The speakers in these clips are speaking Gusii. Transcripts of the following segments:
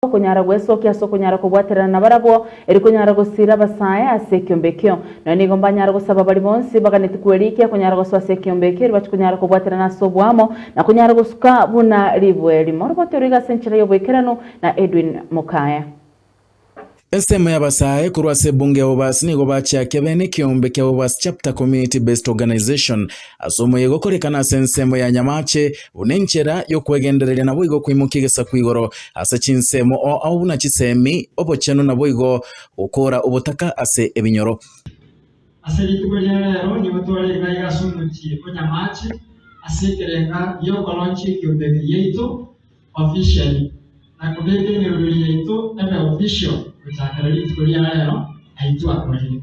okonyara gwesokia ase okonyara kobwaterana nabarabwo, eri konyara gosiira abasae ase ekiombe ekio. Nonya nigo mbanyara gosaba baria bonsi baganeti kwerikia konyara gosoa ase ekiombe ekio, eri bache konyara kobwaterana ase oboamo, na konyara gosuka buna ribueri. Morobotwe riga ase enchera y'oboikeranu na Edwin Mukaya. Ensemo y'abasae korwa ase ebunge ya Obasi nigo bachiakia bene ekiombe kia Obasi Chapter Community Based Organization. Ase omoyega okorekana ase ensemo ya nyamaache, buna enchera y'okwegendereria naboigo okoimokia egesaku igoro ase chinsemo oo ao buna chisemi, obochenu naboigo gokoora obotaka ase ebinyoro. Ase rituko ria reero nigo tware igaiga ase omochie o nyamaache ase ekerenga gi'okoroncha ekiombe giaito officially na kobeka emeruru yaito ebe official gochakera rituko ria reero, aitwe akorire.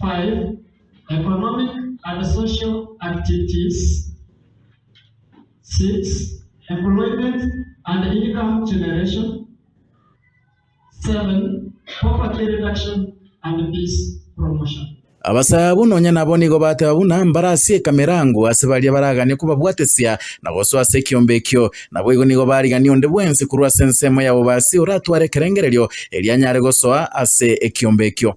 5, Economic and Social Activities, 6, Employment and Income Generation, 7, Poverty Reduction and Peace Promotion. Abasaabu nonya nabo nigo bateba buna mbarasieka emerango ase baria baragania kobabwatesia na gosoa ase ekiombe ekio. Naboigo nigo barigania onde bwensi korwa ase ensemo ya bobasi oratware ekerengererio erio anyare gosoa ase ekiombe ekio.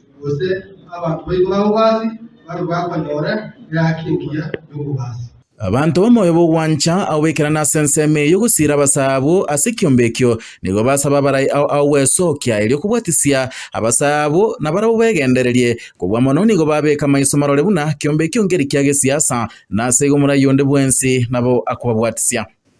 gose abanto baito b'abobaasi babe bakonyora eraaki engiya y'obobaasi. Abanto b'omoyo bw'ogwancha ao baikerane ase ensemo eyio gosiira abasaa abwo ase ekiombe ekio, nigo basabe abarai ao ao gwesookia, erio kobwatisia abasaa abwo, na barabwo begendererie. Kobua mono nigo babeeka maiso marore buna kiombe ekio nkeri kia gesiasa, na ase igo morai onde bwensi nabo akobabwatisia.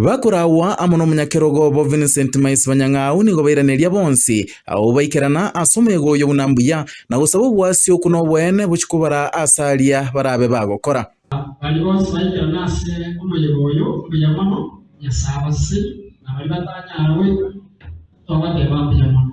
Bakoragwa amo n'omonyakerogo obo Vincent Mais Banyang'au nigo bairaneria bonsi abwo baikerana ase omoyega oyio buna mbuya, na gosaba obwasio okwo noboene bochiko bara ase aria barabe bagokora. Baria bonsi baikerana ase omoyega oyio mbuya mono, Nyasae abaseseri, na baria batanyara goika, tobateba mbuya mono.